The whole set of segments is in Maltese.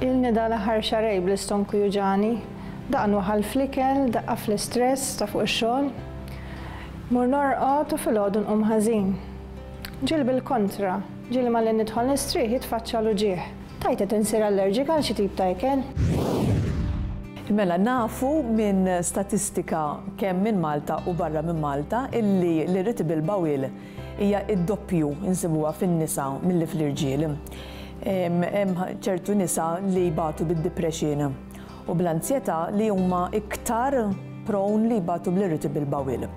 Ilni dan l-aħħar xahrejn bl-istonku juġagħni, daqqa nwaħħal fl-ikel, daqqa fl-istress ta' fuq ix-xogħol. Mmur norqod u filgħodu nqum ħażin. Ġieli bil-kontra, ġieli malli nidħol nistrieħ jitfaċċa l-uġigħ. Tgħid qed insir allerġika għal xi tip ta' ikel? Mela nafu minn statistika kemm minn Malta u barra minn Malta illi l-irritable bowel hija d-doppju insibuha fin-nisa milli fl-irġiel. Hemm ċertu nisa li jbatu bid-depression u bl-anzjetà li huma iktar prone li jbatu bl-irritable bowel.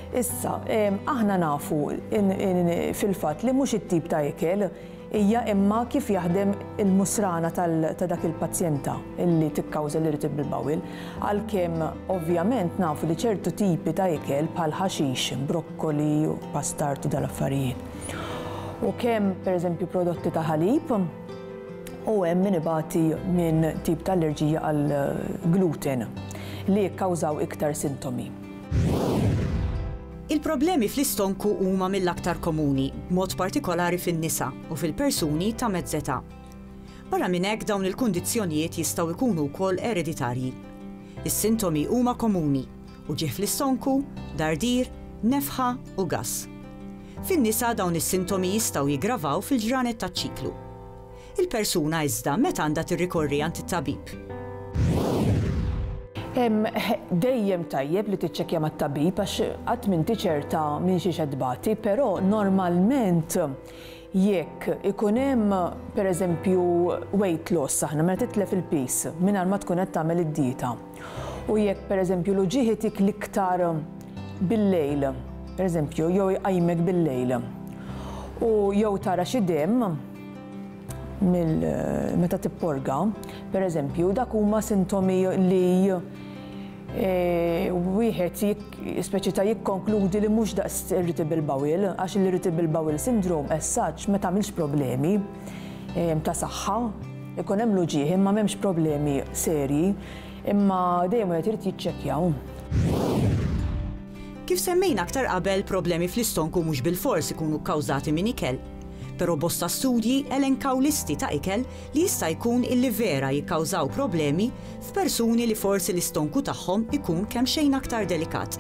Issa, aħna nafu fil-fatt li mhux it-tip ta' ikel hija imma kif jaħdem il-musrana ta' dak il-pazjenta li tikkawża l-irritable bowel, għalkemm ovvjament nafu li ċertu tipi ta' ikel bħal ħaxix, brokkoli, pastard u dal-affarijiet. U kemm, pereżempju, prodotti ta' ħalib. u hemm min ibati minn tip ta' allerġija għall-gluten li jikkawżaw iktar sintomi. Il-problemi fl-istonku huma mill-aktar komuni, b'mod partikolari fin-nisa u fil-persuni ta' mezz età. Barra minn hekk dawn il-kundizzjonijiet jistgħu jkunu wkoll ereditarji. Is-sintomi huma komuni, u ġie fl-istonku, dardir, nefħa u gass. Fin-nisa dawn is-sintomi jistgħu jiggravaw fil-ġranet taċ-ċiklu. Il-persuna iżda meta għandha tirrikorri għand it-tabib? Dejjem tajjeb li tiċċekkja mat-tabib għax qatt m'inti ċerta minn xiex qed tbati, però normalment Jekk ikun hemm, pereżempju, weight loss aħna, meta titlef il-piż mingħajr ma tkun qed tagħmel id-dieta. U jekk pereżempju l-uġigħ itik l-iktar bil-lejl, pereżempju, jew iqajmek bil-lejl, u jew tara xi demm meta tipporga, pereżempju, dak huma sintomi li wieħed speċi ta' jikkonkludi li mhux daqs irritable bowel għax l-irritable bowel syndrome as such ma tagħmilx problemi ehm, ta' saħħa, ikun hemm l-uġieħ imma m'hemmx problemi serji, imma dejjem wieħed irid jiċċekkjaw. Kif semmejna aktar qabel problemi fl-istonku mhux bil-fors ikunu kkawżati minn ikel, però bosta studji elenkaw listi ta' ikel li jista' jkun illi vera jikkawżaw problemi f'persuni li forsi l-istonku tagħhom ikun kemxejn aktar delikat.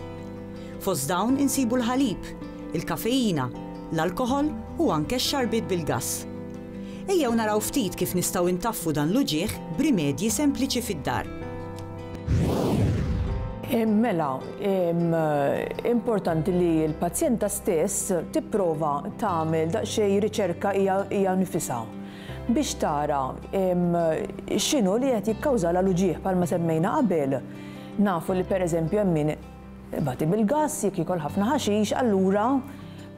Fost dawn insibu l-ħalib, il-kafeina, l-alkoħol u anke x-xarbiet bil-gass. Ejjew naraw ftit kif nistgħu intaffu dan l-uġigħ b'rimedji sempliċi fid-dar. Mela, importanti li l-pazjenta stess tipprova tagħmel daqsxejn riċerka hija nifisha. biex tara x'inhu li qed jikkawżalha l-uġigħ bħalma semmejna qabel. Nafu li pereżempju hemm min ibati bil-gass, jekk jiekol ħafna ħaxix, allura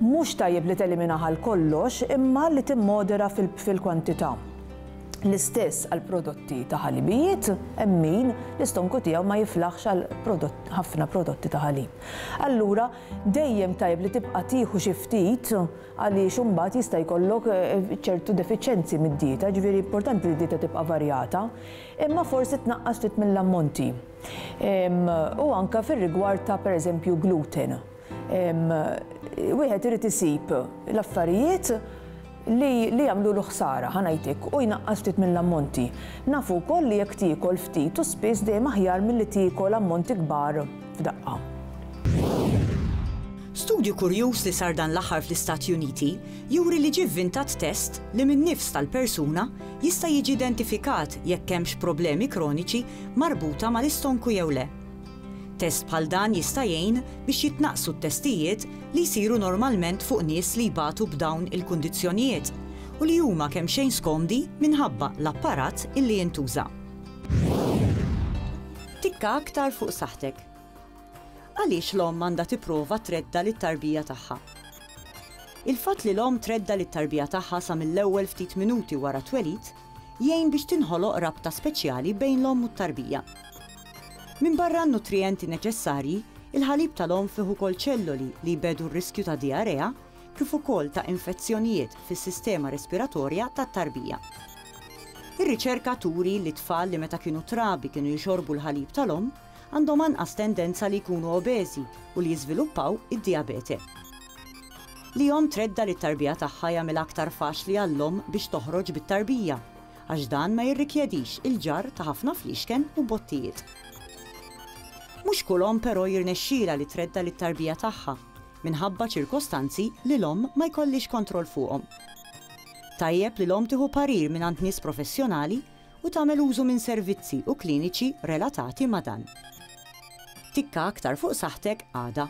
mhux tajjeb li teliminah għal kollox imma li timmodera fil-kwantità. L-istess għal prodotti ta' ħalibijiet, hemm min l-istonku tiegħu ma jiflaħx għal ħafna prodotti ta' ħalib. Allura dejjem tajjeb li tibqa' tieħu xi ftit għaliex imbagħad jista' jkollok ċertu defiċjenzi mid-dieta, jiġifieri importanti li d-dieta tibqa' varjata, imma forsi tnaqqas ftit mill-ammonti. U anke fir-rigward ta' pereżempju gluten, wieħed irid isib l-affarijiet li li jagħmlulu ħsara, ħa ngħidlek, u jnaqqas ftit mill-ammonti. Nafu wkoll li jekk tiekol ftit u spiss dejjem aħjar milli tiekol ammonti kbar. f'daqqa. Studju kurjuż li sar dan l-aħħar fl-Istati Uniti juri li ġie vvintat test li min-nifs tal-persuna jista' jiġi identifikat jekk hemmx problemi kroniċi marbuta mal-istonku jew le. Test bħal dan jista' jgħin biex jitnaqqsu t-testijiet li jsiru normalment fuq nies li jbatu b'dawn il-kundizzjonijiet u li huma kemmxejn skomdi minħabba l-apparat illi jintuża. Tikka aktar fuq saħħtek. Għaliex l-omm għandha tipprova tredda lit-tarbija tagħha? Il-fatt li l-omm tredda lit-tarbija tagħha sa mill-ewwel ftit minuti wara t-twelid jgħin biex tinħoloq rabta speċjali bejn l-omm u t-tarbija. Minbarra n-nutrijenti neċessarji, il-ħalib tal-omm fih ukoll ċelloli li jbegħdu r-riskju ta' dijarea, kif ukoll ta' infezzjonijiet fis-sistema respiratorja tat-tarbija. Ir-riċerka turi li t-tfal li meta kienu trabi kienu jixorbu l-ħalib tal-omm għandhom anqas tendenza li jkunu obeżi u li jiżviluppaw id-dijabete. Li omm tredda lit-tarbija tagħha jagħmilha aktar faċli għall-omm biex toħroġ bit-tarbija, għax dan ma jirrikjedix il-ġarr ta' ħafna fliexken u bottijiet. Mhux kull omm però jirnexxilha li tredda lit-tarbija tagħha. minħabba ċirkostanzi li l-omm ma jkollhiex kontroll fuqhom. Tajjeb li l-omm tieħu parir mingħand nies professjonali u tagħmel użu minn servizzi u kliniċi relatati ma' dan. Tikka aktar fuq saħħtek għada.